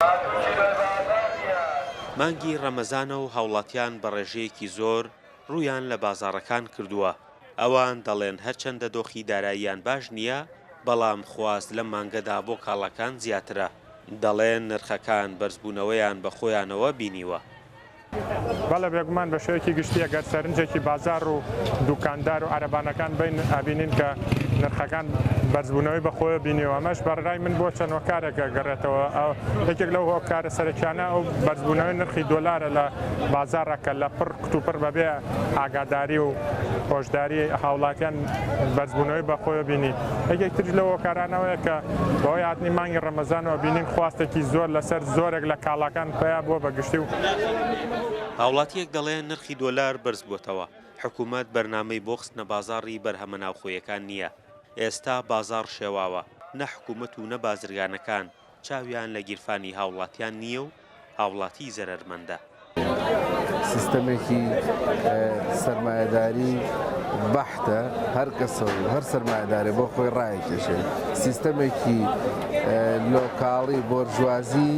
پاکووچی بەر بازار نییە. مانگی ڕەمەزانە و هاوڵاتیان بە ڕێژەیەکی زۆر ڕوویان لە بازاڕەکان کردووە، ئەوان دەڵێن هەرچەندە دۆخی داراییان باش نییە، بەڵام خواست لەم مانگەدا بۆ کاڵاکان زیاترە، دەڵێن نرخەکان بەرزبوونەوەیان بە خۆیانەوە بینیوە. بەڵێ بێگومان بە شێوەیەکی گشتی ئەگەر سەرنجێکی بازاڕ و دووکاندار و عەرەبانەکان بەین ئەبینین کە نرخەکان بەرزبوونەوەی بەخۆیە بینیوە ئەمەش بەڕای من بۆ چەند هۆکارێک گەڕێتەوە یەکێک لەو هۆکارە سەرەکیانە ئەو بەرزبوونەوەی نرخی دۆلارە لە بازاڕە کە لە پڕ کتوپڕ بەبێ ئاگاداری و هۆشداری هاوڵاتیان بەرزبوونەوەی بەخۆیە بینی یەکێک ترش لە هۆکارانەوەیە کە بەوەی هاتنی مانگی ڕەمەزانەوە بینین خواستێکی زۆر لەسەر زۆرێک لە کاڵاکان پیا بووە بە گشتی و. هاوڵاتییەک دەڵێ نرخی دۆلار بەرز بووەتەوە، حکوومەت بەرنامەی بۆ خستنە بازاڕی بەرهەمە ناوخۆیەکان نییە، ئێستا بازاڕ شێواوە، نە حکوومەت و نە بازرگانەکان چاویان لە گیرفانی هاوڵاتیان نییە و هاوڵاتی زەرەرمەندە. سیستەمێکی سەرمایەداری بەحتە، هەر کەسە و هەر سەرمایەدارێ بۆ خۆی ڕایەکێشێ، سیستەمێکی. لۆکاڵی بۆرژوازی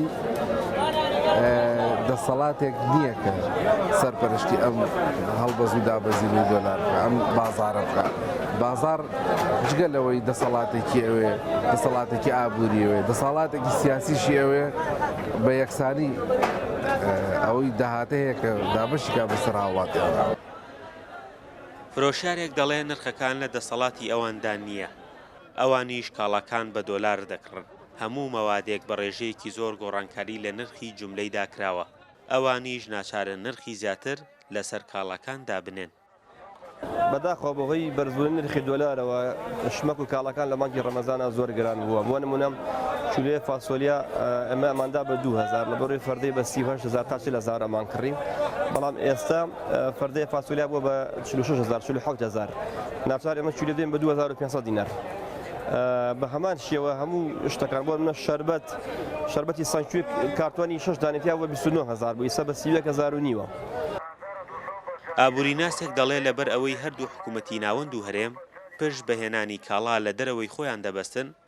دەسەڵاتێک نییە کە سەرپەرشتی ئەم هەڵبەز و دابەزینی دۆلار بکات، ئەم بازاڕە بکات. بازاڕ جگە لەوەی دەسەڵاتێکی ئەوێ، دەسەڵاتێکی ئابووری ئەوێ، دەسەڵاتێکی سیاسیشی ئەوێ بە یەکسانی ئەوەی داهات هەیە کە دابەشی کات بەسەر هاوڵاتیاندا. فرۆشیارێک دەڵێ نرخەکان لە دەسەڵاتی ئەواندا نییە، ئەوانیش کاڵاکان بە دۆلار دەکڕن، هەموو مەوادێک بە ڕێژەیەکی زۆر گۆڕانکاری لە نرخی جوملەیدا کراوە، ئەوانیش ناچارن نرخی زیاتر لەسەر کاڵاکان دابنێن. بەداخەوە بەهۆی بەرزبوونی نرخی دۆلارەوە شمەک و کاڵاکان لە مانگی ڕەمەزاندا زۆر گران بووە، بۆ نموونە کیلۆیەک فاسۆلیا ئێمە ئەماندا بە دوو هەزار، لە بڕی فەردەی بە سی و هەشت هەزار تا چل هەزار ئەمانکڕی، بەڵام ئێستا. پردێ فاسۆلیا بووە بە 46 هزار 47 هزار ناچار ئێمە چی دەدەین بە 2500 دینار بە هەمان شێوە هەموو شتەکان بۆ منە شربەت شربەتی سانکوێ کارتوانی شش دانێتیا بە 29 هزار بوو ئیسە بە 30 هزار و نیوە. ئابووریناسێک دەڵێ لەبەر ئەوەی هەردوو حکوومەتی ناوەند و هەرێم پشت بە هێنانی کاڵا لە دەرەوەی خۆیان دەبەستن،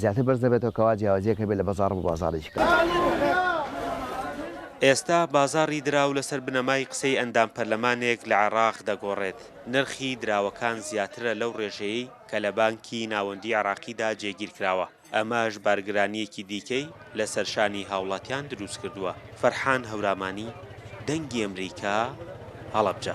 زیاتر بەرز دەبێتەوە کەوا جیاوازیەک هەبێت لە بەزاڕ بۆ بازاڕێکی کەم. ئێستا بازاڕی دراو لەسەر بنەمای قسەی ئەندام پەرلەمانێک لە عێڕاق دەگۆڕێت، نرخی دراوەکان زیاترە لەو ڕێژەیەی کە لە بانکی ناوەندی عێڕاقیدا جێگیرکراوە، ئەمەش بارگرانییەکی دیکەی لەسەر شانی هاوڵاتیان دروستکردووە. فەرحان هەورامانی، دەنگی ئەمریکا، هەڵەبجە.